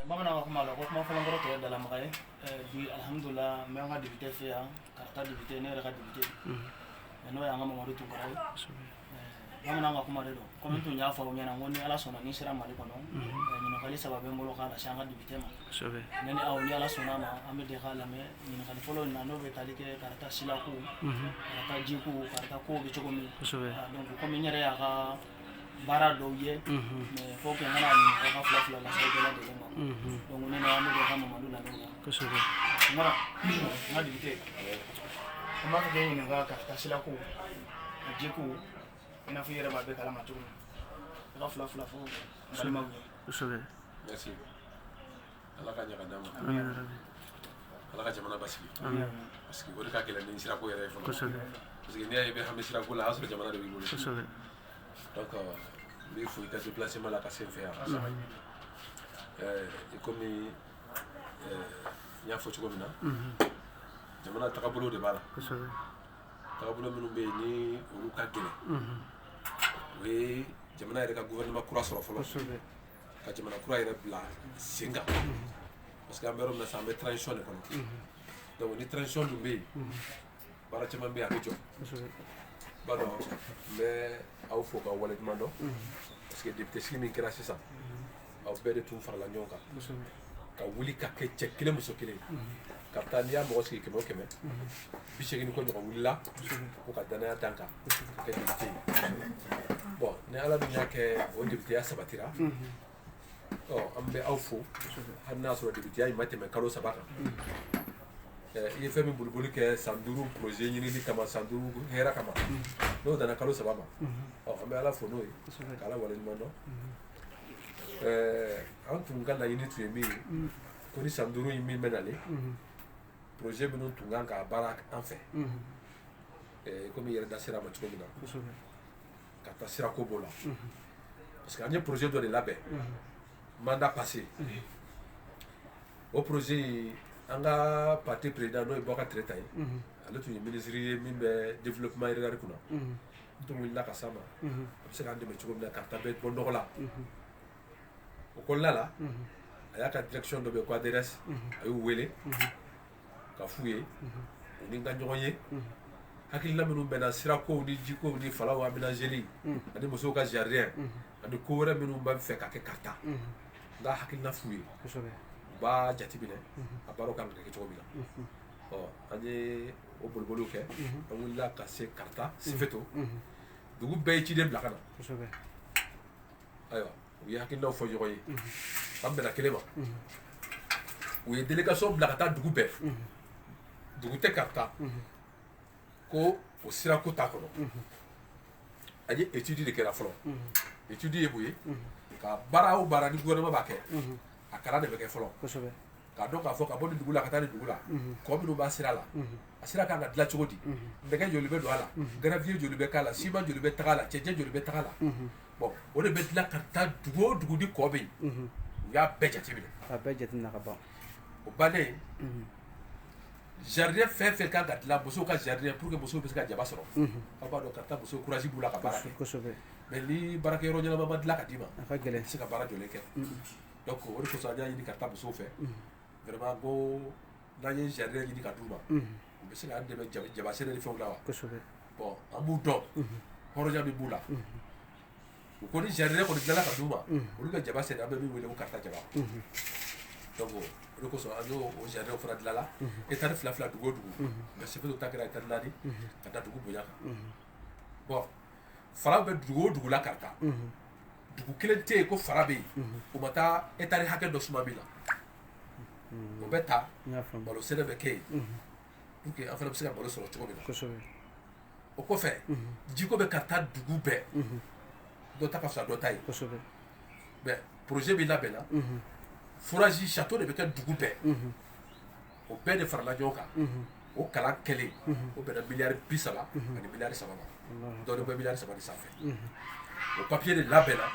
bamananw ka kuma la ko kuma fɔlen kɔrɔ tɔ ye dalamaga ye bi alihamudulila n bɛ an ka député fɛ yan karata député ne yɛrɛ ka député n'o y'an ka mamadu tunkara ye bamananw ka kuma de don komi n tun y'a fɔ aw ɲɛna ko ni ala sɔnna ni n sera mali kɔnɔ ɲininkali saba bɛ n bolo k'a lase an ka député ma ne ni aw ni ala sɔnna ma an bɛ jɛ k'a lamɛn ɲininkali fɔlɔ in na n'o bɛ tali kɛ karata silakow karata jikow karata kow bɛ cogo min donc komi n yɛrɛ y'a ka baara dɔw ye mais faut que n ka na a ɲininka ka fila fila lase aw bɛɛ lajɛlen ma donc ne n'aw an bɛ jɛ ka Mamadu lamɛn quoi kosɛbɛ Tunkara n ka député an b'a fɛ k'e ɲininka karata silako a jiko i n'a fɔ i yɛrɛ b'a bɛɛ kalama cogo min na ka fila fila fɔ n balimaw ye kosɛbɛ merci ala ka ɲaga d'an ma ala ka jamana basigi parce que o de ka gɛlɛn ni sirako yɛrɛ ye fɔlɔ parce que n'i y'a ye i bɛ hami sirako la a y'a sɔrɔ jamana de b'i bolo donc n b'i fo i ka déplacement la ka se n fɛ yan i komi n y'a fɔ cogo min na jamana tagabolo de b'a la tagabolo minnu bɛ yen ni olu ka gɛlɛn o ye jamana yɛrɛ ka gouvernement kura sɔrɔ fɔlɔ ka jamana kura yɛrɛ bila sen kan parce que an bɛ yɔrɔ min na sisan an bɛ transition de kɔnɔ donc ni transition dun bɛ yen baara caman bɛ yen a bɛ jɔ i b'a dɔn n bɛ aw fo k'aw waleɲuman dɔn parce que député sigi min kɛra sisan aw bɛɛ de tun farala ɲɔgɔn kan ka wuli ka kɛ cɛ kelen muso kelen karata n'i y'a mɔgɔ sigi kɛmɛ o kɛmɛ bi seegin ni kɔ ɲɔgɔn wulila k'u ka danaya d'an kan bon ni ala dun y'a kɛ o députéya sabatira an bɛ aw fo hali n'a sɔrɔ députéya in ma tɛmɛ kalo saba kan i ye fɛn min boliboli kɛ san duuru projet ɲinili kama san duuru hɛrɛ kama n'o danna kalo saba ma an bɛ ala fo n'o ye k'ala waleɲuman dɔn an tun ka laɲini tun ye min ye ko ni san duuru in min bɛ nalen projet minnu tun kan ka baara an fɛ komi i yɛrɛ da sera a ma cogo min na karata sirako b'o la parce que an ye projet dɔ de labɛn mandat passé o projet in an ka parti président n'o ye bokari tereta ye ale tun ye ministre ye min bɛ développement rural kunna n tun wulila ka s'a ma a bɛ se k'an dɛmɛ cogo min na karata bɛ bɔ nɔgɔ la o kɔnɔna la a y'a ka direction dɔ bɛ yen ko adrs a y'u wele k'a f'u ye u ni n ka ɲɔgɔn ye hakilina minnu bɛ n na sirakow ni jikow ni falaw aménageli ani musow ka jardin ani ko wɛrɛ minnu bɛ n fɛ ka kɛ karata n ka hakilina f'u ye u b'a jateminɛ a baaraw kan ka kɛ cogo min na ɔ an ye o boliboliw kɛ an wulila ka se karata sefeto dugu bɛɛ ye ciden bila ka na ayiwa u ye hakilinaw fɔ ɲɔgɔn ye k'an bɛnna kelen ma u ye délégation bila ka taa dugu bɛɛ dugu tɛ karata ko o sirako t'a kɔnɔ a ye étude de kɛra fɔlɔ étude ye mun ye ka baara o baara ni gouvernement b'a kɛ a kalan de bɛ kɛ fɔlɔ k'a dɔn k'a fɔ ka bɔ nin dugu la ka taa nin dugu la kɔ minnu b'a sira la a sira kan ka dilan cogo di nɛgɛ joli bɛ don a la gravier joli bɛ k'a la ciment joli bɛ taga a la cɛncɛn joli bɛ taga a la bon o de bɛ dilan karata dugu o dugu ni kɔ bɛ yen u y'a bɛɛ jateminɛ a bɛɛ jateminɛ ka ban o bannen jardin fɛn fɛn kan ka dilan musow ka jardin pour que musow bɛ se ka jaba sɔrɔ aw b'a dɔn karata musow courage b'u la ka baara kɛ mais ni baarakɛyɔrɔ ɲɛnama ma dilan ka d'i ma a ka gɛlɛn i tɛ se ka baara jɔlen kɛ donc o de kosɔn an y'a ɲini karata musow fɛ vraiment ko n'an ye jardin ɲini ka d'u ma u bɛ se k'an dɛmɛ jaba sɛnɛ ni fɛnw la wa kosɛbɛ bon an b'u dɔn hɔrɔnya min b'u la u ko ni jardin kɔni dilanna ka d'u ma olu bɛ jaba sɛnɛ an bɛ min wele ko karata jaba donc o de kosɔn an y'o o jardin fana dilanna hectare fila fila dugu o dugu nka sefeto ta kɛra hectare naani ka da dugu bonya kan bon fara bɛ dugu o dugu la karata dugu kelen tɛ yen ko fara bɛ yen o ma ta hectare hakɛ dɔ suma min na o bɛ ta malo sɛnɛ bɛ kɛ yen pour que an fana bɛ se ka malo sɔrɔ cogo min na o kɔfɛ jiko bɛ karata dugu bɛɛ dɔ ta ka fisa dɔ ta ye mais projet min labɛnna forage château de bɛ kɛ dugu bɛɛ o bɛɛ de farala ɲɔgɔn kan o kalan kɛlen o bɛnna miliyari bi saba ani miliyari saba ma dɔ bɛ miliyari saba sanfɛ o papier de labɛnna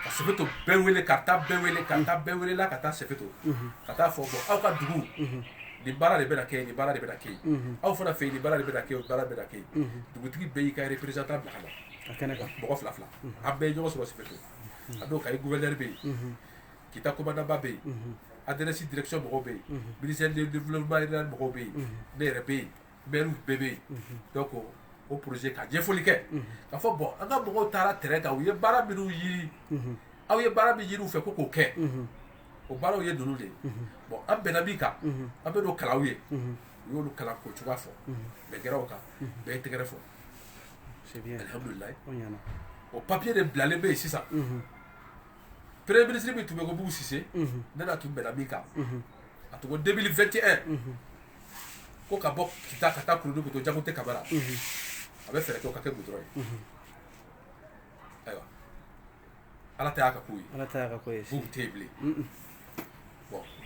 ka sefeto bɛɛ wele karata bɛɛ wele karata bɛɛ welela ka taa sefeto ka taa fɔ bon aw ka dugu nin baara de bɛ kɛ yen nin baara de bɛ kɛ yen aw fana fɛ yen nin baara de bɛ kɛ yen o baara bɛ kɛ yen dugutigi bɛɛ y'i ka représentant bila ka na mɔgɔ fila fila an bɛɛ ye ɲɔgɔn sɔrɔ sefeto a don kayi gouverneur bɛ yen kita commandant ba bɛ yen adrs direction mɔgɔw bɛ yen ministère du développement rural mɔgɔw bɛ yen ne yɛrɛ bɛ yen mɛriw bɛɛ bɛ yen donc o projet ka ɲɛfɔli kɛ k'a fɔ bon an ka mɔgɔw taara terrain kan u ye baara minnu yiri aw ye baara min yiri u fɛ ko k'o kɛ o baaraw ye ninnu de ye bon an bɛnna min kan an bɛ n'o kalan aw ye u y'olu kalan k'o cogoya fɔ bɛɛ kɛra o kan bɛɛ y'i tɛgɛrɛ fɔ alihamudulilayi o papier de bilalen bɛ yen sisan peree minisiri min tun bɛ ko busise ne tun bɛnna min kan a tun ko denele fɛn tɛ ko ka bɔ ki ka taa kulu to jago tɛ kaba a bɛ fɛ ka kɛ bu dɔrɔn ye ayiwa ala y'a ka ko ye fu tɛ bilen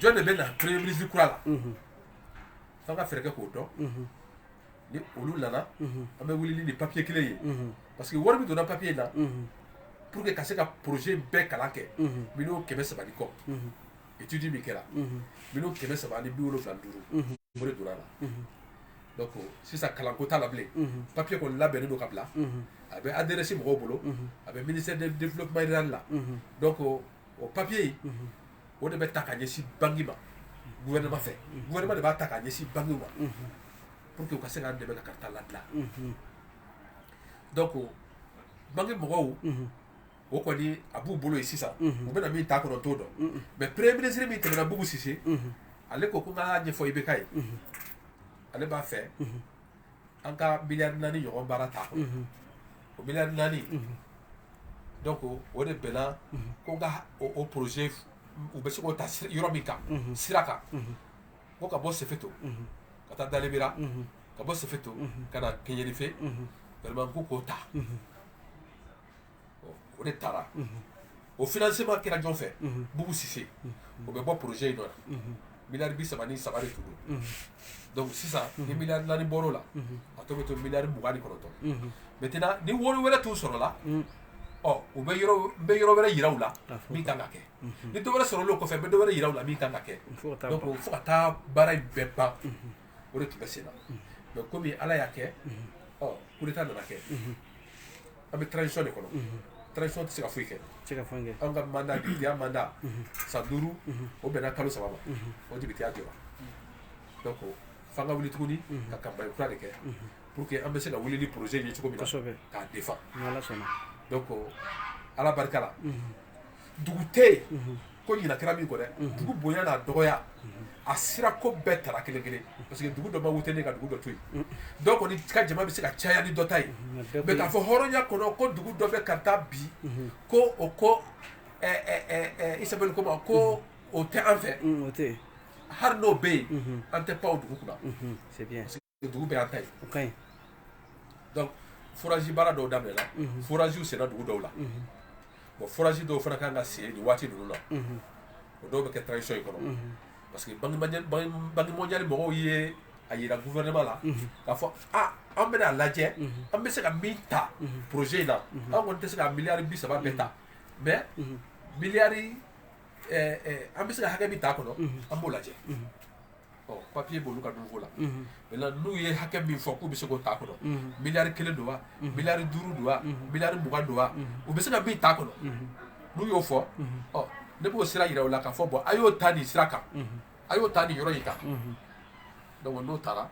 jɔn de bɛ na pere minisiri kura la' ka fɛɛrɛ k'o dɔn ni olu nana an bɛ wuli ni papiye kelen ye parce que wari min donna papiye in na pour que ka se ka projet bɛɛ kalan kɛ miliyɔn kɛmɛ saba kɔ étude min kɛra miliyɔn kɛmɛ saba ni bi wolonwula duuru o de donna la donc sisan kalanko t'a la bilen papiye kɔni labɛnnen don ka bila a bɛ adrs mɔgɔw bolo a bɛ ministère de développement rural la donc o papiye o de bɛ ta ka ɲɛsin banque ma gouvernement fɛ gouvernement de b'a ta ka ɲɛsin banque ma pour que u ka se k'an dɛmɛ ka kaarta ladilan donc banque mɔgɔw o kɔni a b'u bolo yen sisan u bɛna min t'a kɔnɔ t'o dɔn mais premier ministre min tɛmɛna bugu sise ale ko ko n k'a ɲɛfɔ ibk ye ale b'a fɛ an ka miliyari naani ɲɔgɔn baara t'a kɔnɔ o miliyari naani donc o de bɛnna ko n ka o projet u bɛ se k'o ta yɔrɔ min kan sira kan ko ka bɔ sefeto ka taa dalibera ka bɔ sefeto ka na keɲerife vraiment ko k'o ta o de taara o financement kira jɔn fɛ bugu sise o bɛ bɔ projet in nɔ la miliyari bi saba ni saba de tun don sisan ni miliyari naani bɔr'a la a tɔ bɛ to miliyari mugan ni kɔnɔntɔn maintenant ni wari wɛrɛ tun sɔrɔla ɔ n bɛ yɔrɔ wɛrɛ yira u la min kan ka kɛ ni dɔ wɛrɛ sɔrɔla o kɔfɛ n bɛ dɔ wɛrɛ yira u la min kan ka kɛ fo ka taa baara in bɛɛ ban o de tun bɛ sen na mais kɔmi ala y'a kɛ coup d'état nana kɛ an bɛ transition de kɔnɔ transition tɛ se ka foyi kɛ an ka mandat depiteya mandat san duuru o bɛnna kalo saba ma o depiteya jɔra f'an ka wuli tuguni ka campagne kura de kɛ pour que an bɛ se ka wuli ni projet ye cogo min k'a défendre ala barika la dugu tɛ yen mhm. ko ɲina kɛra min kɔ dɛ mhm. dugu bonya n'a dɔgɔya mhm. a sira ko bɛɛ tara kelen kelen parce que dugu dɔ ma wote ne ka dugu dɔ to yen dɔw kɔni ka jama bɛ se ka caya ni dɔ ta ye mais k'a fɔ hɔrɔnya kɔnɔ ko dugu dɔ bɛ kaarta bi ko o ko isabɛli ko ma ko o tɛ an fɛ hali n'o bɛ yen an tɛ pan o dugu kunna dugu bɛɛ y'an ta ye donc forage baara dɔw daminɛla forage senna dugu dɔw la bon forage dɔw fana ka kan ka sen waati ninnu na o dɔw bɛ kɛ transition in kɔnɔ parce que banque mondiale mɔgɔw ye a yira gouvernement la k'a fɔ an bɛna a lajɛ an bɛ se ka min ta projet in na an kɔni tɛ se ka miliyari bi saba bɛɛ ta mais miliyari an bɛ se ka hakɛ min t'a kɔnɔ an b'o lajɛ ɔ papier b'olu ka niveau la maintenant n'u ye hakɛ min fɔ k'u bɛ se k'o ta kɔnɔ miliyari kelen don wa miliyari duuru don wa miliyari mugan don wa u bɛ se ka min ta kɔnɔ n'u y'o fɔ ɔ ne b'o sira jira u la k'a fɔ bon a y'o ta nin sira kan a y'o ta nin yɔrɔ in kan donc n'o taara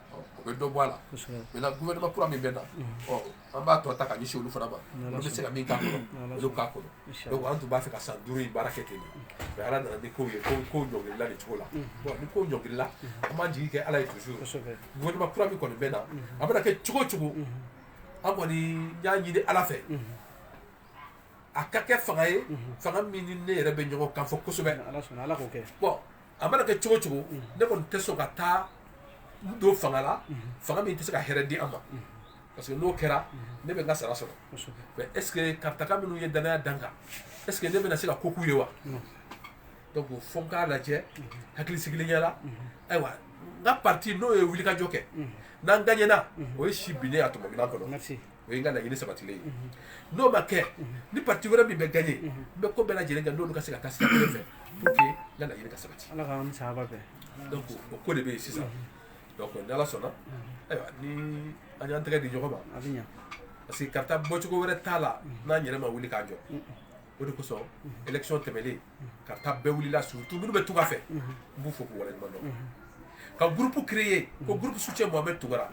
o bɛ dɔ bɔ a la maintenant gouvernement kura min bɛ na an b'a tɔ ta ka ɲɛsin olu fana ma olu bɛ se ka min k'a kɔnɔ olu k'a kɔnɔ donc an tun b'a fɛ ka san duuru in baara kɛ ten de mais ala nana ni kow ye ko kow ɲɔngirila nin cogo la bon ni kow ɲɔngirila an b'an jigi kɛ ala ye toujours gouvernement kura min kɔni bɛ na a bɛna kɛ cogo o cogo an kɔni y'a ɲini ala fɛ a ka kɛ fanga ye fanga min ni ne yɛrɛ bɛ ɲɔgɔn kan fɔ kosɛbɛ bon a mana kɛ cogo o cogo ne kɔni tɛ sɔn ka taa n don fanga la fanga min tɛ se ka hɛrɛ di an ma parce que n'o kɛra ne bɛ n ka sara sɔrɔ mais est ce que karataka minnu ye danaya da n kan est ce que ne bɛna se ka ko k'u ye wa donc fo n k'a lajɛ hakili sigilenya la ayiwa n ka parti n'o ye wulikajɔ kɛ n'an gagnera o ye si binnen a tuma minan kɔnɔ o ye n ka laɲini sabatilen ye n'o ma kɛ ni parti wɛrɛ min bɛ gagner n bɛ ko bɛɛ lajɛlen kɛ n'olu ka se ka taa sira kelen fɛ pour que n ka laɲini ka sabati donc o ko de bɛ yen sisan donc ni ala sɔnna ayiwa ni an y'an tɛgɛ di ɲɔgɔn ma a bɛ ɲa parce que karata bɔcogo wɛrɛ t'a la n'an yɛrɛ ma wuli k'an jɔ o de kosɔn élection tɛmɛnen karata bɛɛ wulila surtout minnu bɛ tunga fɛ n b'u fo k'u waleɲuman dɔn ka groupe créer ko groupe soutien mohamed tounkara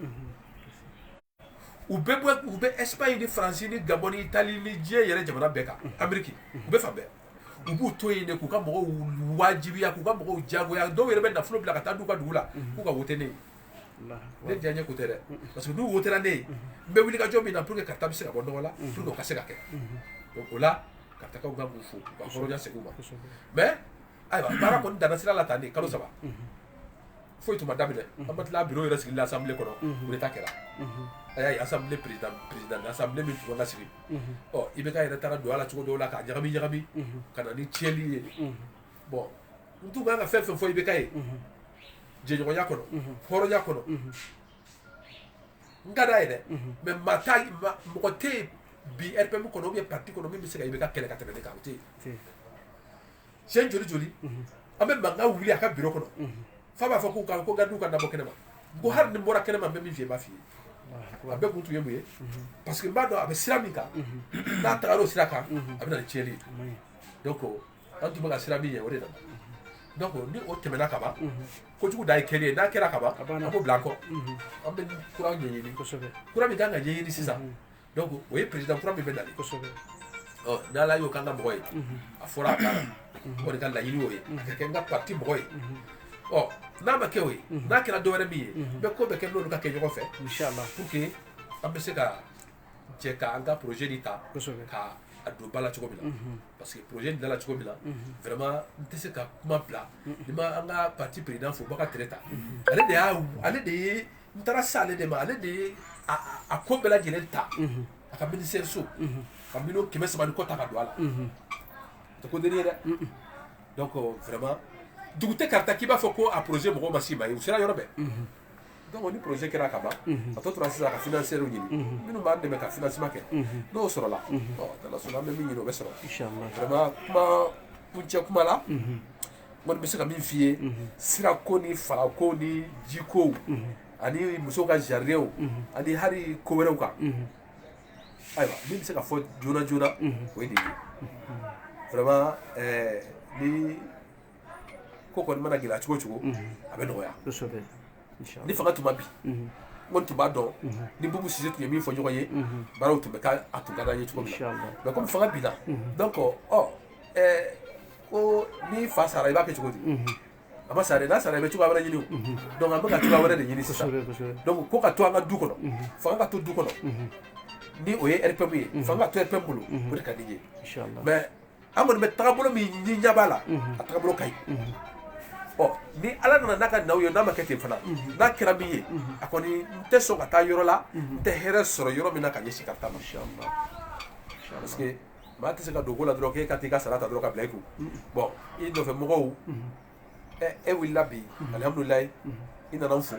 u bɛ bɔ u bɛ espagne ni faransi ni gabɔn ni itali ni diɲɛ yɛrɛ jamana bɛɛ kan ameriki u bɛ fan bɛɛ u b'u to yen de k'u ka mɔgɔw wajibiya k'u ka mɔgɔw jagoya dɔw yɛrɛ bɛ nafolo bila ka taa d'u ka dugu la k'u ka wote ne ye ne diyanye ko tɛ dɛ parce que n'u wotera ne ye n bɛ wuli ka jɔ min na pour que karata bɛ se ka bɔ nɔgɔ la pour que o ka se ka kɛ donc o la karatakaw n b'u fo k'u ka hɔrɔnya segin u ma mais ayiwa baara kɔni danna sira la tan de kalo saba foyi tun ma daminɛ an ma tila bureau yɛrɛ sigili la assemblée kɔnɔ coup d'Etat kɛra a y'a ye assemblée président assemblée min tun kan ka sigi ɔ IBK yɛrɛ taara don a la cogo dɔw la k'a ɲagami ɲagami ka na ni tiɲɛni ye bon n tun kan ka fɛn fɛn fɔ IBK ye jɛɲɔgɔnya kɔnɔ hɔrɔnya kɔnɔ n ka d'a ye dɛ mais maa t'a ye ma- mɔgɔ tɛ yen bi RPM kɔnɔ ou bien parti kɔnɔ min bɛ se ka IBK kɛlɛ ka tɛmɛ ne kan o tɛ yen siɲɛ joli joli an bɛ mankan wuli a ka biro kɔnɔ fo a b'a fɔ k'u ka ko gardiw ka n labɔ kɛnɛma ko hali ni n bɔra kɛnɛma n bɛ min f'i ye n b'a f'i ye a bɛɛ kun tun ye mun ye parce que n b'a dɔn a bɛ sira min kan n'a tagara o sira kan a bɛ na ni tiɲɛni ye donc an tun bɛ ka siran min ɲɛ o de nana donc ni o tɛmɛna ka ban kojugu dan ye kɛli ye n'a kɛra ka ban an b'o bila an kɔ an bɛ kura ɲɛɲini kura min kan ka ɲɛɲini sisan donc o ye président kura min bɛ nalen kosɛbɛ ɔ n'ala y'o k'an ka mɔgɔ ye a fɔra a taara o de ka laɲini y'o ye a ka kɛ n ka parti mɔgɔ ye ɔ n'a ma kɛ o ye n'a kɛra dɔ wɛrɛ min ye bɛɛ ko bɛ kɛ n'olu ka kɛ ɲɔgɔn fɛ inchallah pour que an bɛ se ka jɛ ka an ka projet nin ta kosɛbɛ ka a don ba la cogo min na parce que projet nin dala cogo min na vraiment n tɛ se ka kuma bila ni n ma an ka parti président fo Baka Tereta ale de y'a ale de ye n taara se ale de ma ale de ye a ko bɛɛ lajɛlen ta a ka ministère so ka miliyɔn kɛmɛ saba ni kɔ ta ka don a la tɛ ko deni ye dɛ donc vraiment dugu tɛ Karta k'i b'a fɔ ko a projet mɔgɔw ma s'i ma yen u sera yɔrɔ bɛɛ donc ni projet kɛra ka ban a tɔ tora sisan ka financierw ɲini minnu b'an dɛmɛ ka financement kɛ n'o sɔrɔla n'ala sɔnna an bɛ min ɲini o bɛ sɔrɔ vraiment kuma kuncɛ kuma la n kɔni bɛ se ka min f'i ye sira ko ni fara ko ni ji ko ani musow ka jardinw ani hali ko wɛrɛw kan ayiwa min bɛ se ka fɔ joona joona o ye nin ye vraiment ni ko kɔni mana gɛlɛya cogo cogo a bɛ nɔgɔya ni fanga tun ma bin n kɔni tun b'a dɔn ni Bubu Sise tun ye min fɔ ɲɔgɔn ye baaraw tun bɛ k'a tun ka d'an ye cogo min na mais komi fanga binna donc ɔ ko n'i fa sara i b'a kɛ cogo di a ma sa dɛ n'a sara i bɛ cogoya wɛrɛ ɲini o donc an bɛ ka cogoya wɛrɛ de ɲini sisan kosɛbɛ kosɛbɛ donc ko ka to an ka du kɔnɔ fanga ka to du kɔnɔ ni o ye rpm ye fanga ka to rpm bolo o de ka di n ye inshallah mais an kɔni bɛ tagabolo min ni ɲɛ b'a la a tagabolo ka ɲi ɔ ni ala nana n'a ka naw ye n'a ma kɛ ten fana n'a kɛra min ye a kɔni n tɛ sɔn ka taa yɔrɔ la n tɛ hɛrɛ sɔrɔ yɔrɔ min na ka ɲɛsin Karta ma inshallah parce que Maa tɛ se ka don ko la dɔrɔn k'e ka t'i ka sara ta dɔrɔn ka bila i kun bon i nɔfɛ mɔgɔw e wulila bi alihamudulilayi i nana n fo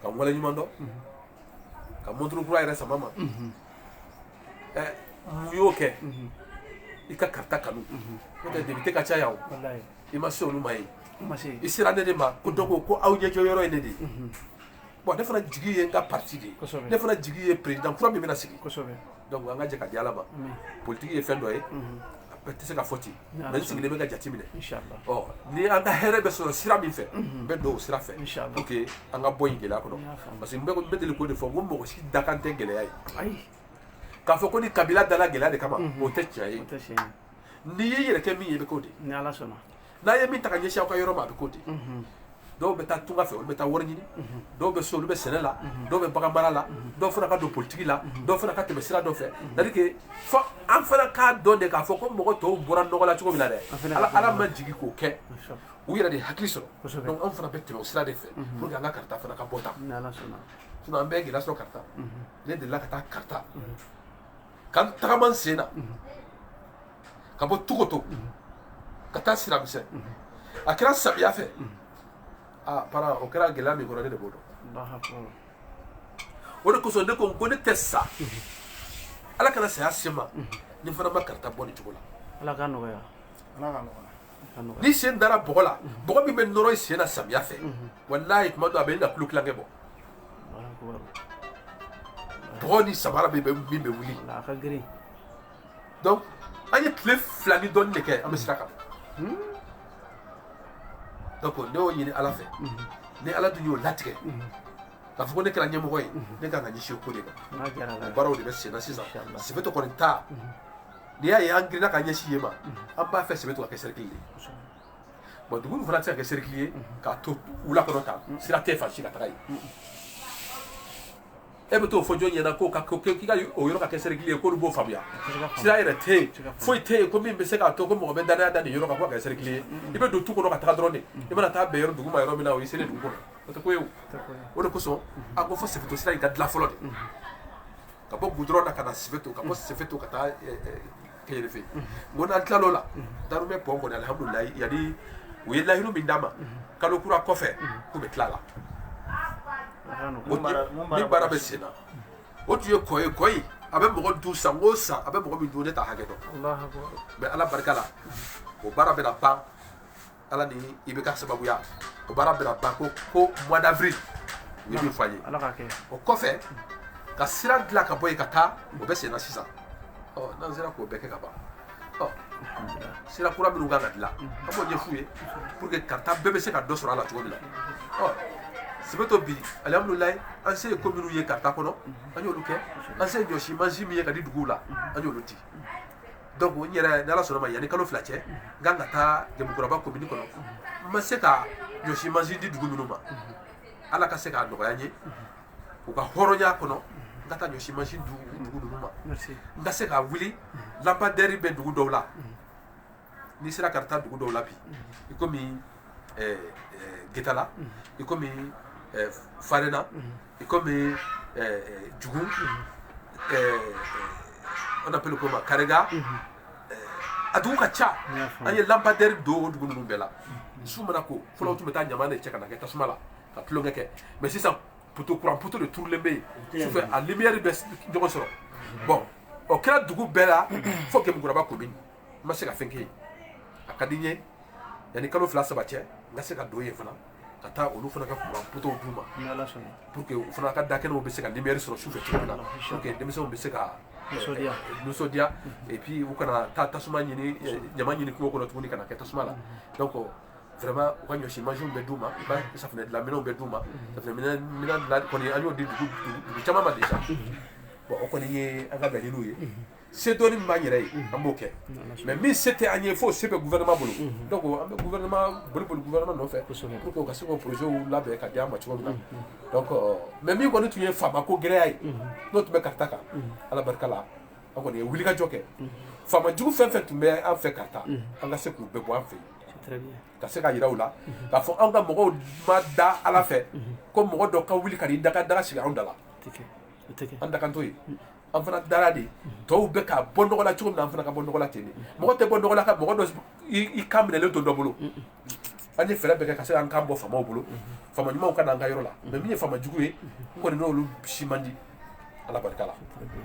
ka n waleɲuman dɔn ka montre kura yɛrɛ sama n ma ɛ mun y'o kɛ i ka Karta kanu n'o tɛ député ka ca yan o i ma se olu ma yen i sera ne de ma ko donc ko aw ɲɛjɔ yɔrɔ ye ne de ye bon ne fana jigi ye n ka parti de ye Kosɛbɛ. ne fana jigi ye président kura min bɛna sigi kosɛbɛ donc an ka jɛ ka di ala ma Amin. politiki ye fɛn dɔ ye a bɛɛ tɛ se ka fɔ ten N'Ala mais n sigilen bɛ ka jate minɛ inshallah ɔ ni an ka hɛrɛ bɛ sɔrɔ sira min fɛ n bɛ don o sira fɛ Inshallah. pour que an ka bɔ nin gɛlɛya kɔnɔ N y'a faamu. parce que n bɛ n bɛ deli k'o de fɔ n ko mɔgɔ si dakan tɛ gɛlɛya ye ayi k'a fɔ ko nin kabila dala gɛlɛya de kama o tɛ tiɲɛ ye o tɛ tiɲɛ ye n'i y'i yɛrɛ kɛ min ye i bɛ k'o de ye ni ala sɔnna n'a ye min ta ka ɲɛsin aw ka yɔrɔ ma a bɛ k'o de dɔw bɛ taa tunga fɛ olu bɛ taa wari ɲini dɔw bɛ so olu bɛ sɛnɛ la dɔw bɛ bagan mara la dɔw fana ka don politigi la dɔw fana ka tɛmɛ sira dɔ fɛ c'est-à-dire fo an fana k'a dɔn de k'a fɔ ko mɔgɔ tɔw bɔra nɔgɔ la cogo min na dɛ ala ala ma jigin k'o kɛ u yɛrɛ de hakili sɔrɔ donc an fana bɛ tɛmɛ o sira de fɛ pour que an ka karita fana ka bɔ tan sinon an bɛ gɛlɛya sɔrɔ karita ne delila ka taa karita ka tagama n sen na ka bɔ togoto ka taa siramisɛn a kɛra samiya fɛ aa para o kɛra gɛlɛya min kɔrɔ ne de b'o dɔn o de kosɔn ne ko ko ne tɛ sa ala kana saya se ma ni fana ma karita bɔ nin cogo la ala ka nɔgɔya ala ka nɔgɔya n'i sen dara bɔgɔ la bɔgɔ min bɛ nɔrɔ i sen na samiya fɛ walayi tuma dɔ a bɛna kilo tilancɛ bɔ bɔgɔ ni samara min bɛ min bɛ wuli donc an ye tile fila ni dɔɔni de kɛ an bɛ sira kan donc ne y'o ɲini ala fɛ ni ala dun y'o latigɛ k'a fɔ ko ne kɛra ɲɛmɔgɔ ye ne kan ka ɲɛsin o ko de ma n'a diyara la o baaraw de bɛ senna sisan Inshallah. sefeto kɔni ta n'i y'a ye an girinna ka ɲɛsin yen ma an b'a fɛ sefeto ka kɛ sɛrɛkili de ye bon dugu nin fana tɛ se ka kɛ sɛrɛkili ye k'a to wula kɔnɔ tan sira tɛ fan si ka taga yen e bɛ t'o fɔ jɔn ɲɛna k'o ka k'i ka o yɔrɔ ka kɛ sɛrɛkili ye k'olu b'o faamuya sira yɛrɛ tɛ yen foyi tɛ yen ko min bɛ se k'a to ko mɔgɔ bɛ danaya da nin yɔrɔ kan k'o ka kɛ sɛrɛkili ye i bɛ don tu kɔnɔ ka taa dɔrɔn de i mana taa bɛn yɔrɔ dugu ma yɔrɔ min na o y'i selen dugu kɔnɔ o tɛ ko ye o o de kosɔn a ko fo sefeto sira in ka dilan fɔlɔ de ka bɔ gudɔrɔn na ka na sefeto ka bɔ sefeto ka taa kefe o n'an tilal'o la darumɛ pɔn kɔni alihamudulila yanni u ye layiru min d'an ma kalo kura kɔfɛ k'u bɛ tila a la ni baara bɛ sen na o tun ye kɔ ye kɔ ye a bɛ mɔgɔ dun san o san a bɛ mɔgɔ min dun ne t'a hakɛ dɔn mais ala barika la o baara bɛna ban ala ni IBK sababuya o baara bɛna ban ko ko mois d'avril u ye min fɔ an ye ala ka kɛ o kɔfɛ ka sira dilan ka bɔ yen ka taa o bɛ senna sisan ɔ n'an sera k'o bɛɛ kɛ ka ban ɔ sira kura minnu kan ka dilan an b'o ɲɛf'u ye pour que karita bɛɛ bɛ se ka dɔ sɔrɔ a la cogo min na ɔ sefeto bi alihamudulilayi an se ye ko minnu ye karita kɔnɔ an y'olu kɛ an se ye ɲɔsi mansin min ye ka di duguw la an y'olu di donc n yɛrɛ ni ala sɔnna ma yanni kalo fila cɛ n kan ka taa jemukuraba komini kɔnɔ n ma se ka ɲɔsi mansin di dugu minnu ma ala ka se k'a nɔgɔya n ye u ka hɔrɔnya kɔnɔ n ka taa ɲɔsi mansin di dugu ninnu ma n ka se ka wuli lampadaire bɛ dugu dɔw la n'i sera karita dugu dɔw la bi i komi eh, eh, getala i komi eh, farena i komi jugu on appelle comment Karega a dugu ka ca an ye lampadaire don o dugu ninnu bɛɛ la su mana ko fɔlɔ tun bɛ taa ɲama de cɛ ka na kɛ tasuma la ka tulonkɛ kɛ mais sisan poto kuran poto de turulen bɛ yen sufɛ a lumière bɛ ɲɔgɔn sɔrɔ bon o kɛra dugu bɛɛ la fo Gemukuraba commune n ma se ka fɛn kɛ yen a ka di n ye yanni kalo fila saba cɛ n ka se ka don yen fana ka taa olu fana ka kuran potow d'u ma pour que u fana ka da kɛnɛw bɛ se ka lumière sɔrɔ sufɛ cogo min na pour que denmisɛnw bɛ se ka nisɔndiya nisɔndiya et puis u kana taa tasuma ɲini ɲama ɲini kungo kɔnɔ tuguni ka na kɛ tasuma la donc vraiment u ka ɲɔsi mansinw bɛ d'u ma u ka safinɛ dilan minɛnw bɛ d'u ma safinɛ minɛn minɛn dilan kɔni an y'o di dugu dugu caman ma déjà bon o kɔni ye an ka laɲiniw ye se dɔɔni min b'an yɛrɛ ye an b'o kɛ mais min se tɛ an ye fo se bɛ gouvernement bolo donc an bɛ gouvernement boli boli gouvernement nɔfɛ pour que u ka se k'o projet labɛn ka di an ma cogo min na donc mais min kɔni tun ye faamako gɛlɛya ye n'o tun bɛ Karata kan Ala barika la an kɔni ye wulikajɔ kɛ faama jugu fɛn fɛn tun bɛ an fɛ Karata an ka se k'u bɛɛ bɔ an fɛ yen ka se ka yira u la k'a fɔ anw ka mɔgɔw ma da Ala fɛ ko mɔgɔ dɔ ka wuli ka n'i daga daga sigi anw da la an dakan t'o ye an fana dara de tɔw bɛ ka bɔ nɔgɔ la cogo min na an fana ka bɔ nɔgɔ la ten de mɔgɔ tɛ bɔ nɔgɔ la ka mɔgɔ dɔ i kan minɛlen to dɔ bolo an ye fɛɛrɛ bɛɛ kɛ ka se an kan bɔ faamaw bolo faama ɲumanw ka na an ka yɔrɔ la mais min ye faama jugu ye n kɔni n'olu si man di ala barika la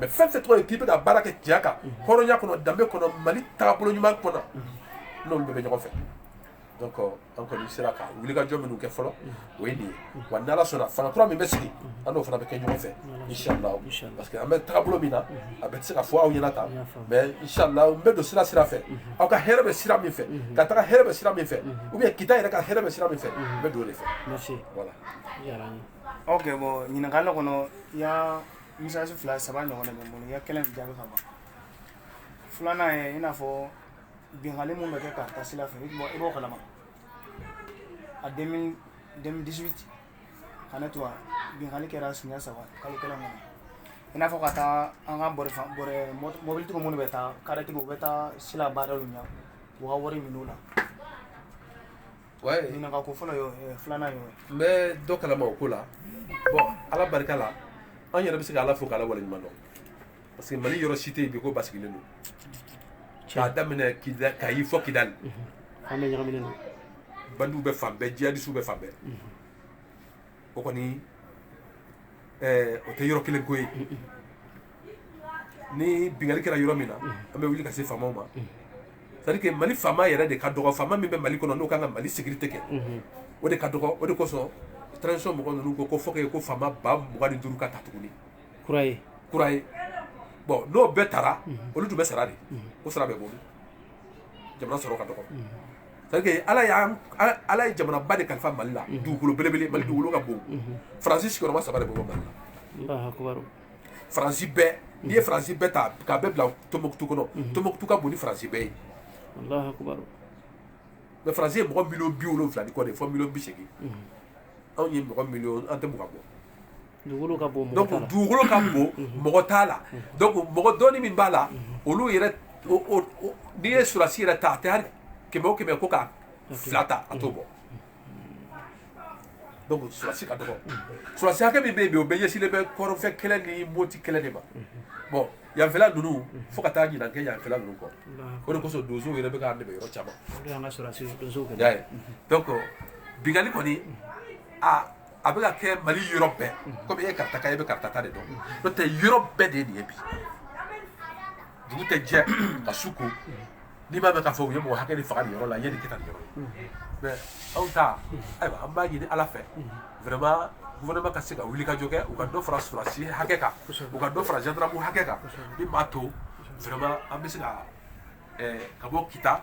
mais fɛn fɛn tɔgɔ ye k'i bɛ ka baara kɛ tiɲɛ kan hɔrɔnya kɔnɔ danbe kɔnɔ mali taabolo ɲuman kɔnɔ n'olu bɛɛ bɛ ɲɔgɔn fɛ an kɔni sera ka wulikajɔ minnu kɛ fɔlɔ o ye nin ye wa n'ala sɔnna fanga kura min bɛ sigi an n'o fana bɛ kɛ ɲɔgɔn fɛ inshallah parce que an bɛ taabolo min na a bɛ se ka fɔ aw ɲɛna tan mais inshallah n bɛ don sira sira fɛ aw ka hɛrɛ bɛ sira min fɛ Karata ka hɛrɛ bɛ sira min fɛ ou bien kita yɛrɛ ka hɛrɛ bɛ sira min fɛ n bɛ don o de fɛ merci voilà ok bon ɲininkali kɔnɔ il y a message fila saba ɲɔgɔn de bɛ n bolo i ka kelen jaabi ka ban filanan ye i n'a fɔ binkanli min bɛ kɛ Karata sira fɛ i b'o kalama a 2018 ka ne to yan binkanni kɛra siɲɛ saba kalo kelen kɔnɔ i n'a fɔ ka taa an ka bɔrɛ bɔrɛ mɔbilitigiw minnu bɛ taa karitigiw u bɛ taa sira barrer u ɲɛ u ka wari minɛ u la ɲininka ko fɔlɔ y'o ye filanan y'o ye n bɛ dɔ kalama o ko la bon ala barika la an yɛrɛ bɛ se ka ala fo k'ala waleɲuman dɔn parce que mali yɔrɔ si tɛ yen bi ko basigilen don k'a daminɛ kayi fo kidali an bɛ ɲagaminen don bandiw bɛ fan bɛɛ jihadisiw bɛ fan bɛɛ o kɔni o tɛ yɔrɔ kelen ko ye ni bingali kɛra yɔrɔ min na an bɛ wuli ka se faamaw ma c'est à dire que mali faama yɛrɛ de ka dɔgɔ faama min bɛ mali kɔnɔ n'o kan ka mali sécurité kɛ o de ka dɔgɔ o de kosɔn transition mɔgɔ ninnu ko ko fo ko faama ba mugan ni duuru ka ta tuguni kura ye kura ye bon n'o bɛɛ tara olu tun bɛ sara de o sara bɛ bolo jamana sɔrɔ ka dɔgɔ c'est que ala y'an ala- ala ye jamanaba de kalifa mali la dugukolo belebele mali dugukolo ka bon faransi sigiyɔrɔma saba de bɛ bɔ mali la Allahu akbar. faransi bɛɛ n'i ye faransi bɛɛ ta k'a bɛɛ bila tombouctou kɔnɔ tombouctou ka bon ni faransi bɛɛ ye Allahu akbar. mais faransi ye mɔgɔ miliyɔn bi wolonwula ni kɔ de ye fo miliyɔn bi seegin anw ye mɔgɔ miliyɔn an tɛ mugan bɔ dugukolo ka bon mɔgɔ t'a la mɔgɔ dɔɔni min b'a la olu yɛrɛ n'i ye surasi yɛrɛ ta a tɛ kɛmɛ o kɛmɛ ko ka fila ta a t'o bɔ donc surasi ka dɔgɔ surasi hakɛ min bɛ yen bi o bɛɛ ɲɛsinnen bɛ kɔrɔnfɛ kɛlɛ ni moti kɛlɛ de ma bon yanfɛla ninnu fo ka taa ɲinan kɛ yanfɛla ninnu kɔ o de kosɔn donsow yɛrɛ bɛ k'an dɛmɛ yɔrɔ caman donc binkanni kɔni a a bɛ ka kɛ mali yɔrɔ bɛɛ komi e ye karataka ye e bɛ karata ta de dɔn n'o tɛ yɔrɔ bɛɛ de ye nin ye bi dugu tɛ jɛ ka su ko n'i m'a mɛn k'a fɔ u ye mɔgɔ hakɛ de faga nin yɔrɔ la yanni kɛ ka nin yɔrɔ ye mais aw ta ayiwa an b'a ɲini ala fɛ vraiment gouvernement ka se ka wuli ka jɔ kɛ u ka dɔ fara surasi hakɛ kan u ka dɔ fara gendarme hakɛ kan min b'a to vraiment an bɛ se ka ka bɔ kita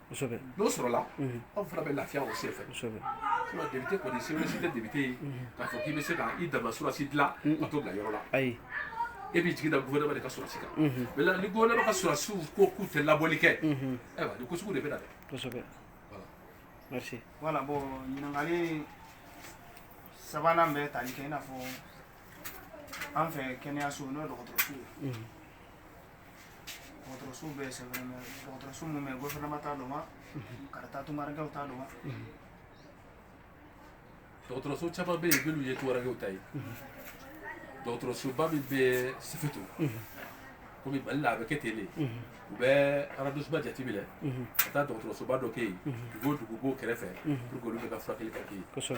n'o sɔrɔla aw fana bɛ lafiya o sen fɛ député kɔni se si tɛ député ye k'a fɔ k'i bɛ se k'i dama surasi dilan ka t'o bila yɔrɔ la ayi e b'i jigi da gouvernement de ka surasi kan mais ni gouvernement ka surasiw ko k'u tɛ labɔli kɛ ayiwa nin ko sugu de bɛ na dɛ merci voilà bon ɲininkali sabanan bɛ tali kɛ i n'a fɔ an fɛ kɛnɛyaso n'o dɔgɔtɔrɔso ye dɔgɔtɔrɔso bɛ yen c'est vrai mais dɔgɔtɔrɔso min bɛ gɔfɛrɛnama ta don wa karata tungarankɛw ta don wa dɔgɔtɔrɔso caman bɛ yen minnu ye tungarankɛw ta ye dɔgɔtɔrɔsoba min bɛ sefeto komi mali la a bɛ kɛ ten de u bɛ arrondissement jateminɛ ka taa dɔgɔtɔrɔsoba dɔ kɛ yen dugu dugu b'o kɛrɛfɛ pour que olu bɛɛ ka furakɛli ka kɛ yen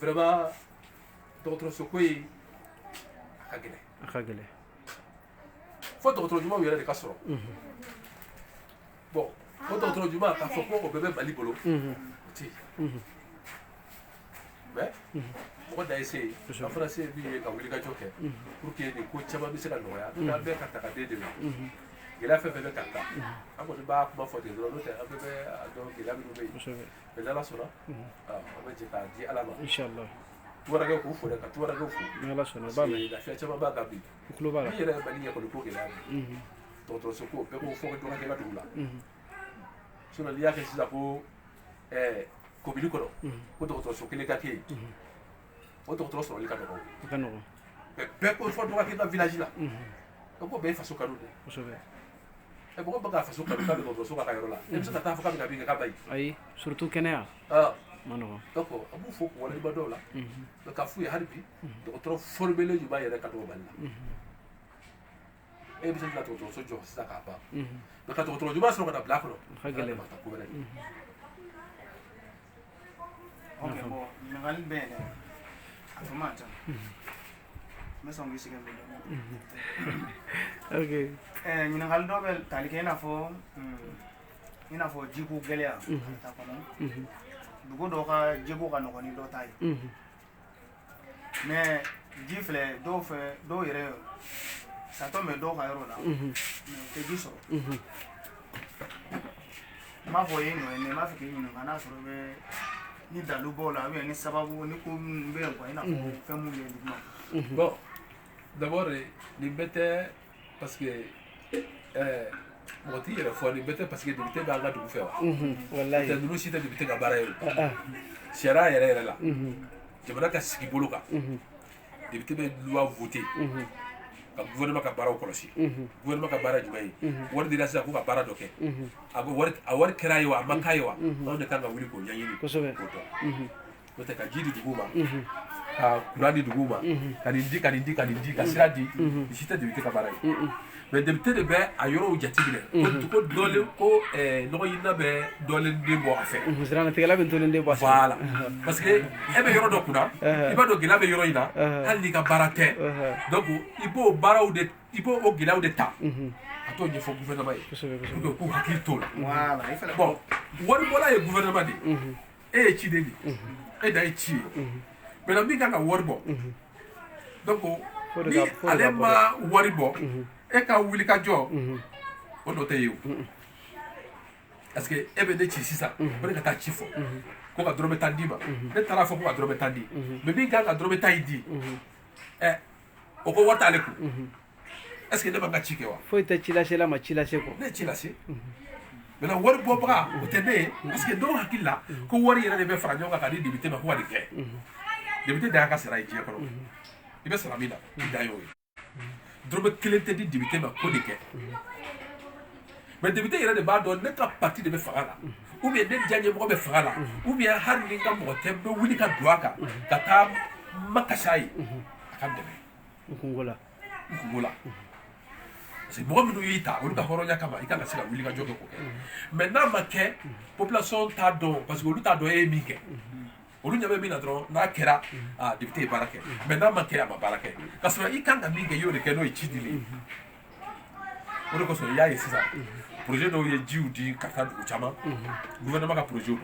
Vraiment dɔgɔtɔrɔso ko in a ka gɛlɛn a ka gɛlɛn fo dɔgɔtɔrɔ ɲumanw yɛrɛ de ka sɔrɔ bon o dɔgɔtɔrɔ ɲuman k'a fɔ ko o bɛɛ bɛ Mali bolo o tɛ mais mɔgɔ dan ye se ye an fana se ye min ye ka wulikajɔ kɛ pour que nin ko caman bɛ se ka nɔgɔya n'an bɛ Kaarta ka den dɛmɛ gɛlɛya fɛn fɛn bɛ Kaarta an kɔni b'a kuma fɔ ten dɔrɔn n'o tɛ an bɛɛ b'a dɔn gɛlɛya minnu bɛ yen mais n'ala sɔnna an bɛ jɛ k'a di ala ma tunkarankɛw k'u fo dɛ ka tunkarankɛw fo lafiya caman b'an kan bi min yɛrɛ ye Mali ɲɛ kɔni ko gɛlɛya dɔgɔtɔrɔso ko bɛɛ ko fo dɔ ka kɛ n ka dugu la sinon n'i y'a kɛ sisan ko komini kɔnɔ ko dɔgɔtɔrɔso kelen ka kɛ yen o dɔgɔtɔrɔ sɔrɔli ka nɔgɔ bɛɛ ko fo dɔ ka kɛ n ka village la o ko bɛɛ ye faso kanu de ye ɛ mɔgɔ b'a ka faso kanu ka dɔgɔtɔrɔso kɛ a ka yɔrɔ la e bɛ se ka taa a fɔ k'a bɛ ka min kɛ k'a man ɲi ayi surtout kɛnɛya man nɔgɔn donc an b'u fo k'u waleɲuman dɔn o la mais k'a f'u ye hali bi dɔgɔtɔrɔ formelen ɲuman yɛrɛ ka dɔgɔ Mali la e bɛ se ka dɔgɔtɔrɔso jɔ sisan k'a ban mais ka dɔgɔtɔrɔ ɲuman sɔrɔ ka n'a bila a kɔnɔ ka gɛlɛn ko wɛrɛ Okay, bon, ɲininkali bɛ yen dɛ, a tun man ca, n bɛ sɔn k'i sɛgɛn dɔɔni, ok, ɛɛ ɲininkali dɔ bɛ tali kɛ i n'a fɔ i n'a fɔ jiko gɛlɛya, Kaarta kɔnɔ, dugu dɔ ka jiko ka nɔgɔ ni dɔ ta ye, unhun. mais ji filɛ dɔw fɛ dɔw yɛrɛ château bɛ dɔw ka yɔrɔ la mais u tɛ ji sɔrɔ n m'a fɔ i ye i nɔ ye mais n b'a fɛ k'i ɲininka n'a sɔrɔ i bɛ ni dalu b'o la ou bien ni sababu ni ko minnu bɛ yen quoi i n'a fɔ fɛn minnu bɛ yen duguma bon d'abord nin bɛɛ tɛ parce que ɛɛ mɔgɔ t'i yɛrɛ fo nin bɛɛ tɛ parce que député b'an ka dugu fɛ wa wala a tɛ ninnu si tɛ député ka baara ye o sariya yɛrɛ yɛrɛ la jamana ka sigi bolo kan député bɛ loi voter ka gouvernement ka baaraw kɔlɔsi gouvernement ka baara jumɛn ye wari dira sisan ko ka baara dɔ kɛ a wari kɛr'a ye wa a ma k'a ye wa anw de kan ka wuli k'o ɲɛɲini kosɛbɛ k'o dɔn N'o tɛ ka ji di dugu ma ka kuran di dugu ma ka nin di ka nin di ka nin di ka sira di nin si tɛ député ka baara ye mais député de bɛ a yɔrɔw jateminɛ ko dugu dɔlen ko nɔgɔɲinina bɛ dɔlen den bɔ a fɛ siranatigɛla bɛ dɔlen den bɔ voilà parce que e bɛ yɔrɔ dɔ kunna i b'a dɔn gɛlɛya bɛ yɔrɔ in na hali n'i ka baara tɛ donc i b'o baaraw de i b'o o gɛlɛyaw de ta ka t'o ɲɛfɔ gouvernement ye pour que u k'u hakili t'o la bon waribɔla ye gouvernement de ye e ye ciden de ye e dan ye ci ye maintenant min kan ka wari bɔ donc ni ale ma wari bɔ e ka wuli ka jɔ o nɔ tɛ ye o parce que e bɛ ne ci sisan ko ne ka taa ci fɔ ko ka dɔrɔmɛ tan d'i ma ne taara fɔ ko ka dɔrɔmɛ tan di mais min kan ka dɔrɔmɛ tan in di ɛ o ko wari t'ale kun est ce que ne ma n ka ci kɛ wa foyi tɛ cilasela ma ci lase kɔ ne ye ci lase maintenant wari bɔbaga o tɛ ne ye parce que dɔw hakili la ko wari yɛrɛ de bɛ fara ɲɔgɔn kan ka di député ma ko ka nin kɛ député dan y'a ka sara ye diɲɛ kɔnɔ i bɛ sara min na i dan y'o ye dɔrɔmɛ kelen tɛ di député ma ko nin kɛ mais député yɛrɛ de b'a dɔn ne ka parti de bɛ fanga la ou bien ne diyaɲɛmɔgɔ bɛ fanga la ou bien hali ni n ka mɔgɔ tɛ n bɛ wuli ka don a kan ka taa makasi a ye a ka dɛmɛ n kunko la parce que mɔgɔ minnu y'i ta olu ka hɔrɔnya kama i kan ka se ka wuli ka jɔ kɛ k'o kɛ mais n'a ma kɛ population t'a dɔn parce que olu t'a dɔn e ye min kɛ olu ɲɛ bɛ min na dɔrɔn n'a kɛra député ye baara kɛ mais n'a ma kɛ a ma baara kɛ ka sɔrɔ i kan ka min kɛ i y'o de kɛ n'o ye ci dili ye o de kosɔn i y'a ye sisan projet dɔw ye jiw di ka taa dugu caman gouvernement ka projet don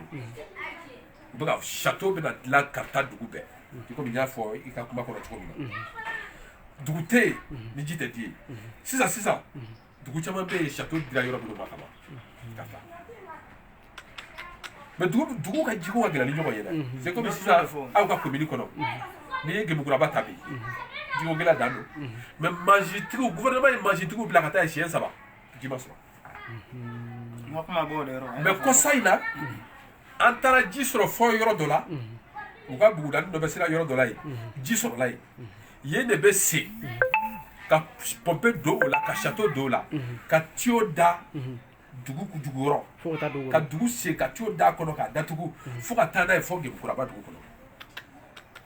u bɛ ka château bɛna dilan ka taa dugu bɛɛ i komi n y'a fɔ i ka kuma kɔnɔ cogo min na dugu tɛ yen ni ji tɛ di yen sisan sisan dugu caman bɛ yen château dira yɔrɔ minnu ma ka ban ka fa mais dugu dugu ka jiko ka gɛlɛn ni ɲɔgɔn ye dɛ c'est comme sisan aw ka commune kɔnɔ n'i ye gemukuraba ta bi jiko gɛlɛya dan don mais mansintigiw gouvernement ye mansintigiw bila ka taa yen siɲɛ saba ji ma sɔrɔ mais kɔsa in na an taara ji sɔrɔ fɔ yɔrɔ dɔ la u ka bugudani dɔ bɛ sira yɔrɔ dɔ la yen ji sɔrɔla yen yen de bɛ sen ka pɔnpe don o la ka château don o la ka tiyo da dugu jukɔrɔ ka dugu sen ka tiyo d'a kɔnɔ k'a datugu fo ka taa n'a ye fɔ gemukuraba dugu kɔnɔ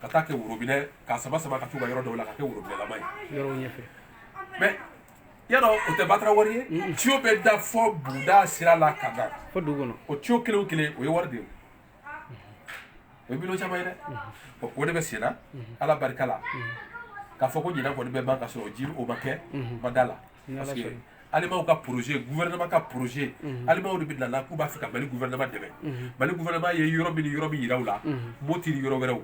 ka taa kɛ worobinɛ k'a sama sama ka t'u ka yɔrɔ dɔw la ka kɛ worobinɛlama ye mais yɔrɔ o tɛ batara wari ye tiyo bɛ da fɔ buguda sira la ka na o tiyo kelen kelen o ye wari de ye o ye miliyɔn caman ye dɛ o de bɛ sen na ala barika la k'a fɔ ko ɲinan kɔni bɛ ban ka sɔrɔ ji o ma kɛ n ma da a la parce que alimanw ka projet gouvernement ka projet alimanw de bɛ na la k'u b'a fɛ ka mali gouvernement dɛmɛ mali gouvernement ye yɔrɔ min ni yɔrɔ min yira u la moti ni yɔrɔ wɛrɛw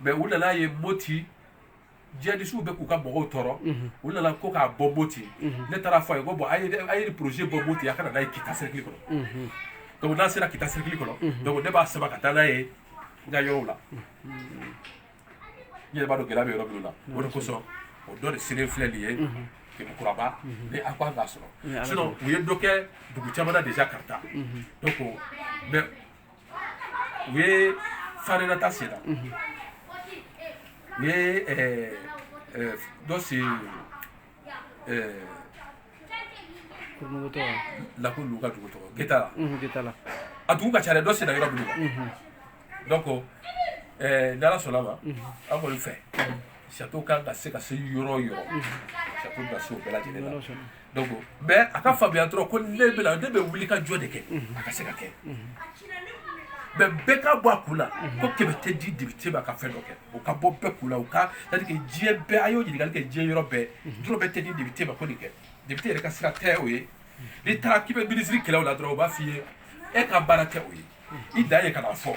mais u nana ye moti jihadistes bɛ k'u ka mɔgɔw tɔɔrɔ u nana ko k'a bɔ Moti ne taara fɔ a ye ko bon a ye a ye projet bɔ Moti a ka na n'a ye Kita cercle kɔnɔ donc n'a sera Kita cercle kɔnɔ donc ne b'a sama ka taa n'a ye n ka yɔrɔw la n yɛrɛ b'a dɔn gɛlɛya bɛ yɔrɔ minnu na o de kosɔn o dɔ de selen filɛ nin ye Gemukuraba ni a ko an k'a sɔrɔ sinon u ye dɔ kɛ dugu caman na déjà Kaarta donc mais u ye farena ta sen na u ye dɔ sen lako lu ka dugu tɔgɔ getala a dugu ka ca dɛ dɔ senna yɔrɔ minnu na donc ni ala sɔnna ma an kɔni fɛ sato kan ka se ka se yɔrɔ yɔrɔ sato ka se o bɛɛ lajɛlen Donc mais a ka faamuya dɔrɔn ko ne bɛ na ne bɛ wuli ka jɔ de kɛ a ka se ka kɛ mais bɛɛ ka bɔ a kun na ko kɛmɛ tɛ di député ma ka fɛn dɔ kɛ o ka bɔ bɛɛ kun na o ka c'est à dire que diɲɛ bɛɛ a y'o ɲininkali kɛ diɲɛ yɔrɔ bɛɛ dɔrɔmɛ tɛ di député ma ko nin kɛ député yɛrɛ ka sira tɛ o ye n'i taara k'i bɛ ministre kɛlɛ o la dɔrɔn o b'a f'i ye e ka baara tɛ o ye i dan ye ka na fɔ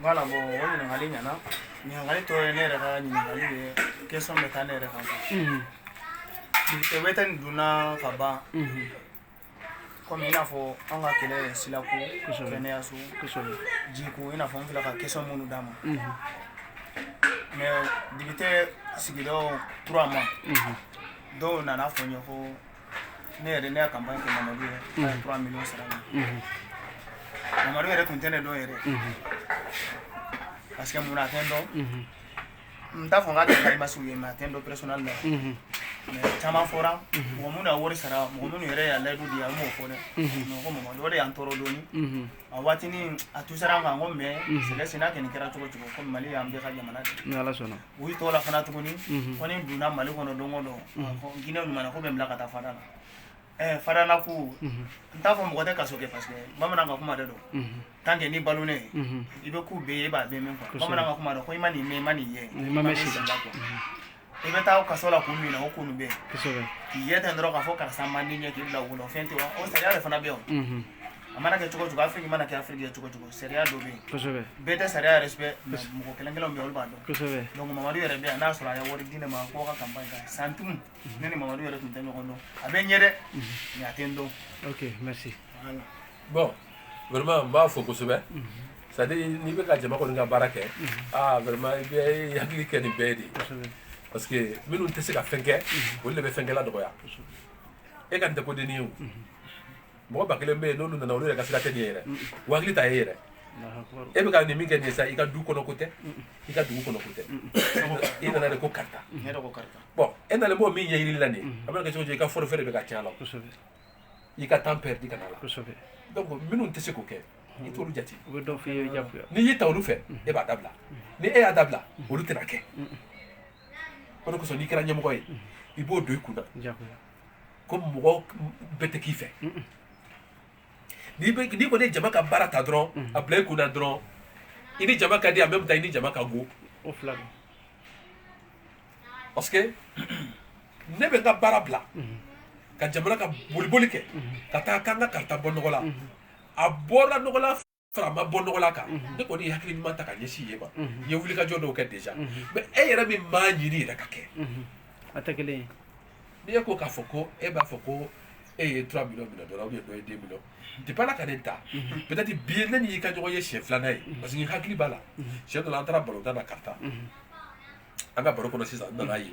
Voilà bon o ɲininkali ɲɛna ɲininkali tɔ ye ne yɛrɛ ka ɲininkali ye question bɛ taa ne yɛrɛ kan député bɛ taa nin donna ka ban comme i n'a fɔ an ka kɛlɛ ye silako kɛnɛyaso jiko i n'a fɔ n fila ka question minnu dama mais député sigida trois mois dɔw nana fɔ n ye ko ne yɛrɛ ne y'a campagne kɛ mamadu yɛrɛ a ye trois millions sara ne mamadu yɛrɛ tun tɛ ne dɔn yɛrɛ parce que mun na a tɛ n dɔn n t'a fɔ n k'a tɛ karimasiw ye mais a tɛ n dɔn personnel la mais caman fɔra mɔgɔ minnu y'a wari sara mɔgɔ minnu yɛrɛ y'a layidu di n m'o fɔ dɛ mais ko mamadu o de y'an tɔɔrɔ dɔɔni a waati nin a tun sera an kan ko mais sɛgɛ senna kɛ nin kɛra cogo cogo ko mali y'an bɛɛ ka jamana de ni ala sɔnna U y'i tɔgɔ la fana tuguni ko ni donna mali kɔnɔ don o don jinɛinɛ ɲuman ko bɛ n bila ka taa fara la ɛɛ farala ko n t'a fɔ mɔgɔ tɛ kaso kɛ parce que bamanan ka kuma de don tant que ni balonen i bɛ ko bɛɛ ye i b'a bɛɛ mɛn quoi bamanan ka kuma de ko i ma nin mɛn i ma nin ye i bɛ taa kaso la kun min na o kun bɛ k'i ye ten dɔrɔn k'a fɔ karisa man di n ye k'i bila o la o fɛn tɛ wa o sariya de fana bɛ yen A mana kɛ cogo cogo Afrique mana kɛ Afrique ye cogo cogo sariya dɔ bɛ yen, kosɛbɛ, bɛɛ tɛ sariya respect mais mɔgɔ kelen kelenw bɛ yen olu b'a dɔn, kosɛbɛ, donc Mamadu yɛrɛ bɛ yan n'a sɔrɔ a ye wari di ne ma ko ka campagne kɛ centime ne ni Mamadu yɛrɛ tun tɛ ɲɔgɔn dɔn a bɛ n ye dɛ mais a tɛ n dɔn, ok merci, voilà, bon vraiment n b'a fo kosɛbɛ c'est à dire n'i bɛ ka jama kɔni ka baara kɛ aa vraiment i bɛ hakili kɛ nin bɛɛ ye de parce que minnu tɛ se ka fɛn kɛ olu de bɛ fɛnkɛla dɔgɔya e ka nin tɛ kodennin ye o. mɔgɔ ba kelen bɛ yen n'olu nana olu yɛrɛ ka sira tɛ nin ye yɛrɛ o hakili t'a ye yɛrɛ e bɛ ka nin min kɛ nin ye sa i ka du kɔnɔ ko tɛ i ka dugu kɔnɔ ko tɛ i nana de ko karita bɔn e nalen b'o min ɲɛɲini la nin a bɛ kɛ cogo i ka forfait de bɛ ka tiɲɛ a la i ka temps perdu ka la donc minnu tɛ se k'o kɛ i t'olu jate n'i y'i ta olu fɛ e b'a dabila ni e y'a dabila olu tɛna kɛ o de kosɔn n'i kɛra ɲɛmɔgɔ ye i b'o don i kun na ko mɔgɔ bɛɛ tɛ k'i fɛ n'i kɔni ye jama ka baara ta dɔrɔn a bila i kun na dɔrɔn i ni jama ka di en même temps i ni jama ka go parce que ne bɛ n ka baara bila ka jamana ka boliboli kɛ ka taa k'an ka karita bɔ nɔgɔ la a bɔra nɔgɔ fara a ma bɔ nɔgɔ la kan ne kɔni ye hakili ɲuman ta ka ɲɛsin yen ma n ye wulikajɔ dɔw kɛ déjà mais e yɛrɛ min m'a ɲini yɛrɛ ka kɛ a tɛ kelen ye n'i ye ko k'a fɔ ko e b'a fɔ ko e ye trois millions minɛ dɔrɔn ou bien dɔ ye deux millions depla ka ne ta peut-être bi ye ne n'i ka ɲɔgɔn ye siɲɛ filanan ye parce que hakili b'a la siɲɛ dɔ la an taara balontan na karita an ka baro kɔnɔ sisan n nana ye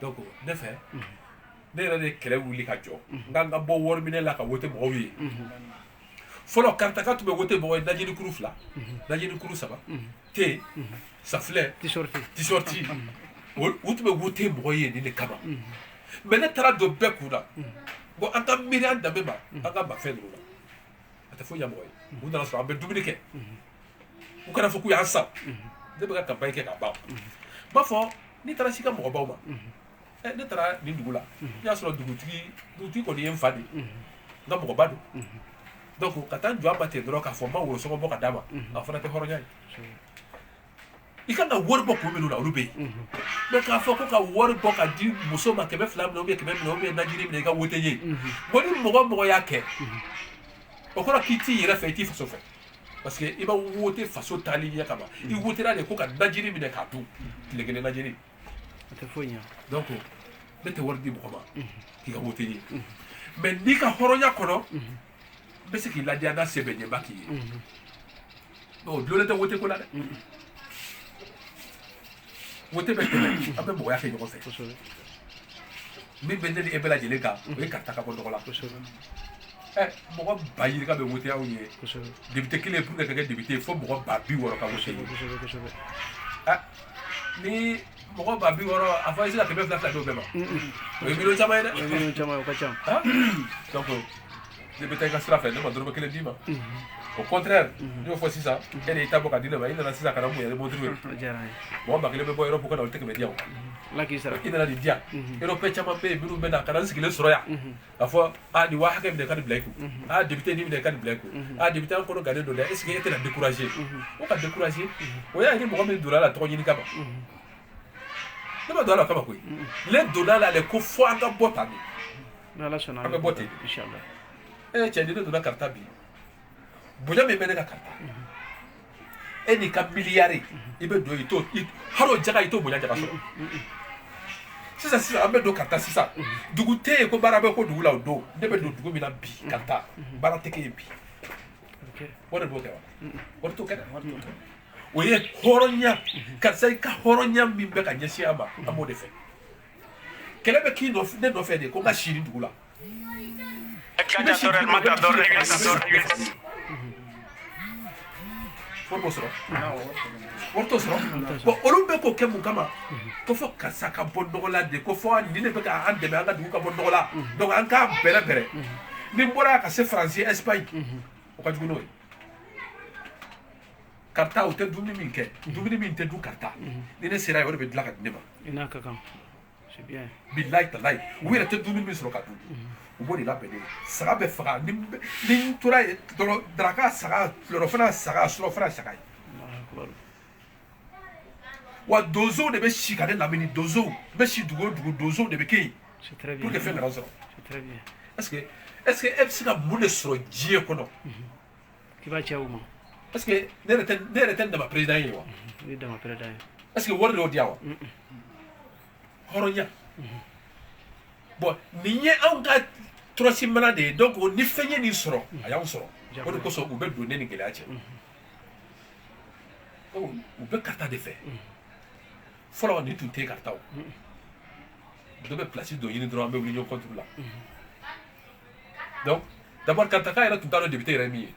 donc ne fɛ ne yɛrɛ de kɛlɛ wuli ka jɔ n k'an ka bɔ wari minɛ la ka wote mɔgɔw ye fɔlɔ karitaka tun bɛ wote mɔgɔ ye najini kuru fila najini kuru saba te safunɛ t-shirt u tun bɛ wote mɔgɔ ye nin de kama mais ne taara a don bɛɛ kun na bon an ka miiri an danbe ma an ka mafɛn ninnu na a tɛ foyi ɲɛ mɔgɔ ye u nana sɔrɔ an bɛ dumuni kɛ u kana fɔ k'u y'an san ne bɛ ka campagne kɛ ka ban n b'a fɔ n'i taara s'i ka mɔgɔbaw ma ne taara nin dugu la n y'a sɔrɔ dugutigi kɔni ye n fa de ye n ka mɔgɔba don donc ka taa n jɔ a ma ten dɔrɔn k'a fɔ n ma worosɔngɔ bɔ ka d'a ma a fana tɛ hɔrɔnya ye i kan ka wari bɔ kun minnu na olu bɛ yen mais k'a fɔ ko ka wari bɔ ka di muso ma kɛmɛ fila minɛ ou bien kɛmɛ minɛ ou bien najini minɛ i ka wote ye bon ni mɔgɔ mɔgɔ y'a kɛ o kɔrɔ k'i t'i yɛrɛ fɛ i t'i faso fɛ parce que i ma wote faso taali ɲɛ kama i wotera de ko ka najini minɛ k'a dun tile kelen najini donc ne tɛ wari di mɔgɔ ma k'i ka wote ye mais n'i ka hɔrɔnya kɔnɔ bɛ se k'i ladiya n'a se bɛ n ye n b'a k'i ye o dulonlen tɛ wote ko la dɛ wote bɛ tɛmɛ an bɛ mɔgɔya kɛ ɲɔgɔn fɛ min bɛ ne ni e bɛɛ lajɛlen kan o ye karita ka bɔ nɔgɔ la ɛ mɔgɔ ba yirika bɛ wote anw ye député kelen pour que ka kɛ député fo mɔgɔ ba bi wɔɔrɔ ka wote ye ni mɔgɔ ba bi wɔɔrɔ a fɔ i sera ka kɛmɛ fila fila d'u bɛɛ ma o ye miliyɔn caman ye dɛ o ye miliyɔn caman ye o ka ca donc e bɛ taa i ka sira fɛ ne ma dɔrɔmɛ kelen d'i ma au contraire n y'o fɔ sisan e de y'i ta bɔ ka di ne ma i nana sisan ka na mun yɛrɛ montre ye mɔgɔ ba kelen bɛ bɔ Europe ka na olu tɛ kɛmɛ di yan i nana nin di yan Européen caman bɛ yen minnu bɛ na ka na n sigilen sɔrɔ yan A fɔ aa nin waa hakɛ minɛ ka nin bila i kun, unhun, aa député nin minɛ ka nin bila i kun, unhun, aa député an kɔnɔ gannen don dɛ est ce que e tɛna décourager unhun, ko ka décourager o y'a ye ni mɔgɔ min donna a la tɔgɔ ɲini kama, unhun, ne ma don a la o kama koyi, unhun, ne donna a la de ko fo an ka bɔ tan de, ni Ala sɔnna an bɛ bɔ ten de, inchallah, ee cɛ ni ne donna karita bi bonya min bɛ ne kan karita e n'i ka miliyari i bɛ don i t'o hali o jaga i t'o bonya jaga sɔrɔ sisan sisan an bɛ don karita sisan dugu tɛ yen ko baara bɛ k'o dugu la o don ne bɛ don dugu min na bi karita baara tɛ kɛ yen bi wari b'o kɛ wa wari t'o kɛ dɛ wari t'o kɛ o ye hɔrɔnya karisa i ka hɔrɔnya min bɛ ka ɲɛsin a ma an b'o de fɛ kɛlɛ bɛ k'i nɔfɛ ne nɔfɛ de ko n ka siri dugu la wari b'o sɔrɔ wari t'o sɔrɔ bon olu bɛ k'o kɛ mun kama ko fɔ karisa ka bɔ nɔgɔ la de ko fɔ nin de bɛ ka an dɛmɛ an ka dugu ka bɔ nɔgɔ la donc an k'a bɛrɛ bɛrɛ ni n bɔra yan ka se faransi espagne o ka jugu n'o ye karita o tɛ dumuni min kɛ dumuni min tɛ dun karita ni ne sera yen o de bɛ dilan ka di ne ma i n'a ka kan bilayi talayi u yɛrɛ tɛ dumuni min sɔrɔ ka dun u b'o de labɛn ne ye saga bɛ faga ni n tora yen dɔrɔn daraka saga tilerɔfana saga surɔfana saga ye wa donsow de bɛ si ka ne lamini donsow n bɛ si dugu o dugu donsow de bɛ kɛ yen pour que fɛn kana n sɔrɔ est ce que est ce que e bɛ se ka mun de sɔrɔ diɲɛ kɔnɔ i b'a cɛ o ma parce que ne yɛrɛ tɛ- ne yɛrɛ tɛ n dama président ye wa i y'i dama président ye est ce que wari de y'o di yan wa hɔrɔnya bon nin ye anw ka tɔrɔsi mana de ye donc ni fɛn ye nin sɔrɔ a y'anw sɔrɔ o de kosɔn u bɛ don ne ni gɛlɛya cɛ u bɛ karita de fɛ fɔlɔ nin tun tɛ karita dɔ bɛ place dɔ ɲini dɔrɔn an bɛ wuli ɲɔgɔn contre la donc d'abord karitaka yɛrɛ tun t'a dɔn député yɛrɛ min ye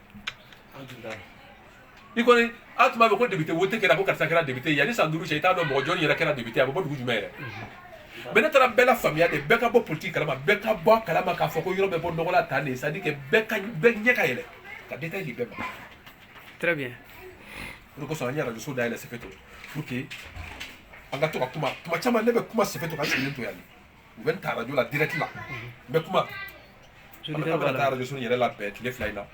i kɔni a tun b'a mɛn ko député wote kɛra ko karisa kɛra député ye yanni san duuru cɛ i t'a dɔn mɔgɔ jɔni yɛrɛ kɛra député ye a bɛ bɔ dugu jumɛn yɛrɛ mais ne taara bɛɛ lafaamuya de bɛɛ ka bɔ politiki kalama bɛɛ ka bɔ a kalama k'a fɔ ko yɔrɔ bɛ bɔ nɔgɔ la tan de c'est à dire que bɛɛ ka bɛɛ ɲɛ ka yɛlɛ ka détail di bɛɛ ma très bien o de kosɔn an ye arajoso dayɛlɛ sefeto pour que an ka to ka kuma kuma caman ne bɛ kuma sefeto ka n sigilen to yan de u bɛ n ta arajo la direct la n bɛ kuma an bɛ taa arajo so yɛrɛ labɛn tile fila in na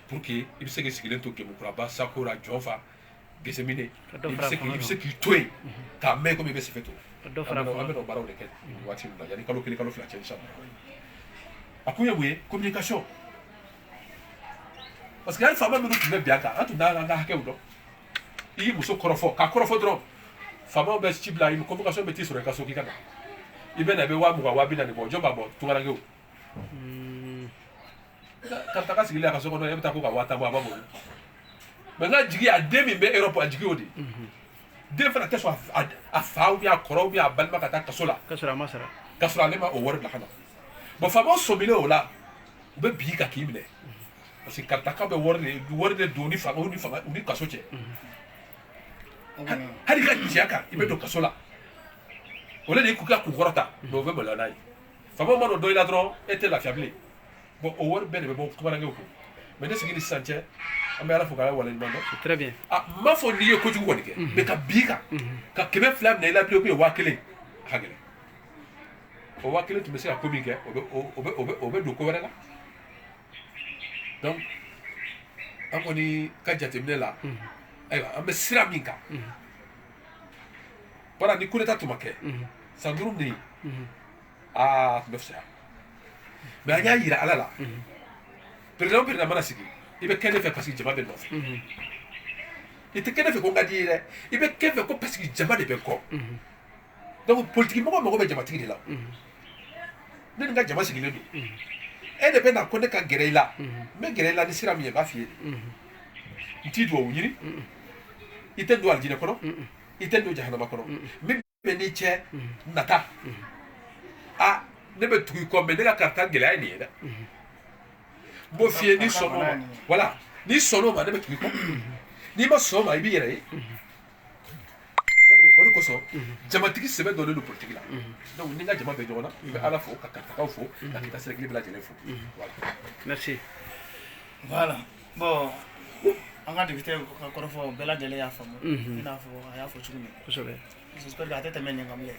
pour que i bɛ se k'i sigilen to Kemukura Sakora Jɔnfa Gesemine i bɛ se k'i i bɛ se k'i to yen k'a mɛn komi i bɛ Sefeto an bɛ o baaraw de kɛ waati min na yanni kalo kelen kalo fila cɛ inshallah a kun ye mun ye communication parce que hali faama minnu tun bɛ bin an kan an tun t'an ka hakɛw dɔn i muso kɔrɔfɔ k'a kɔrɔfɔ dɔrɔn faamaw bɛ ci bila i bɛ convocation bɛ t'i sɔrɔ i ka so k'i ka na i bɛ na i bɛ waa mugan waa bi naani bɔ jɔn b'a bɔ tungarankew karitaka sigilen a ka so kɔnɔ e bɛ taa ko ka waa tan bɔ a b'a bɔ mais nk'a jigi a den min bɛ Europe a jigi o de den fana tɛ sɔn a a fa ou bien a kɔrɔ ou bien a balima ka taa kaso la ka sɔrɔ a ma sara ka sɔrɔ ale ma o wari bila ka na bon faamaw sɔmilen o la u bɛ bin i kan k'i minɛ parce que karitaka bɛ wari de wari de don ni fanga ni fanga ni kaso cɛ hali ka jɛ kan i bɛ don kaso la o de k'u ka kun kɔrɔta mais o bɛ maloya n'a ye faama ma dɔn dɔ i la dɔrɔn e tɛ lafiya bilen bon o wari bɛɛ de bɛ bɔ tungarankew kun mais ne sigi ni sisan cɛ an bɛ ala fo k'ala waleɲuman dɔn très bien n m'a fɔ n'i ye kojugu kɔni kɛ mais ka bin kan ka kɛmɛ fila minɛ i la bilen ou bien waa kelen a ka gɛlɛn o waa kelen tun bɛ se ka ko min kɛ o bɛ o bɛ o bɛ don ko wɛrɛ la donc an kɔni ka jateminɛ la ayiwa an bɛ sira min kan bara ni kudeta tun ma kɛ san duuru nin a tun bɛ fisaya mais an y'a yira ala la perezidan o perezidan mana sigi i bɛ kɛ ne fɛ parce que jama bɛ nɔfɛ i tɛ kɛ ne fɛ ko n ka di ye dɛ i bɛ kɛ fɛ ko parce que jama de bɛ kɔ donc politiki mɔgɔ mago bɛ jamatigi de la ne ni n ka jama sigilen don e de bɛ na ko ne ka gɛrɛ i la n bɛ gɛrɛ i la ni sira min ye n b'a f'i ye n t'i duwawu ɲini i tɛ don alijinɛ kɔnɔ i tɛ don jahanama kɔnɔ min bɛ n'i cɛ nata a ne bɛ tugu i kɔ mais ne ka karita gɛlɛya ye nin ye dɛ n b'o f'i ye n'i sɔnn'o ma voilà n'i sɔnn'o ma ne bɛ tugu i kɔ n'i ma sɔn o ma i b'i yɛrɛ ye o de kosɔn jamatigi sɛbɛ dɔnnen don politiki la donc ni n ka jama bɛ ɲɔgɔn na i bɛ ala fo ka karitakaw fo ka kita sɛrɛkili bɛɛ lajɛlen fo voilà merci voilà bon an ka député ka kɔrɔfɔ bɛɛ lajɛlen y'a faamu i n'a fɔ a y'a fɔ cogo min kosɛbɛ j'espère que a tɛ tɛmɛ nin kan bilen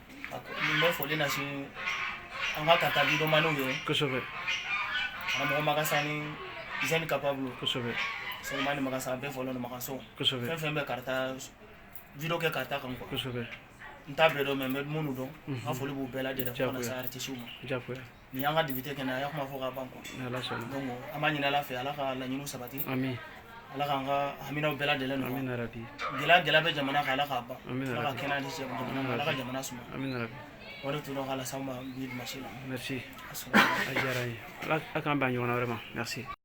N bɛ foli lase an ka karata videomaniw ye kosɛbɛ karamɔgɔ magasa ni jeune capable kosɛbɛ selemani magasa bɛɛ folen don makaso kosɛbɛ fɛn bɛ karata video kɛ karata kan kosɛbɛ n t'a bɛɛ dɔn mais n bɛ minnu dɔn n ka foli b'u bɛɛ lajɛlen fo ka na se artisiw ma nin y'an ka député kɛnɛ a y'a kuma fɔ ka ban quoi ala sɔnna donc an b'a ɲini ala fɛ ala ka laɲiniw sabati amin ala k'an ka haminaw bɛɛ lajɛlen nɔgɔya amin rabi gɛlɛya gɛlɛya bɛ jamana kan ala k'a ban amin ala ka kɛnɛya di jamana ma ala ka jamana suma amin rabi o de tun don k'a las'aw ma bi dimanche la merci a diyara n ye ala k'an bɛn ɲɔgɔnna wɛrɛ ma merci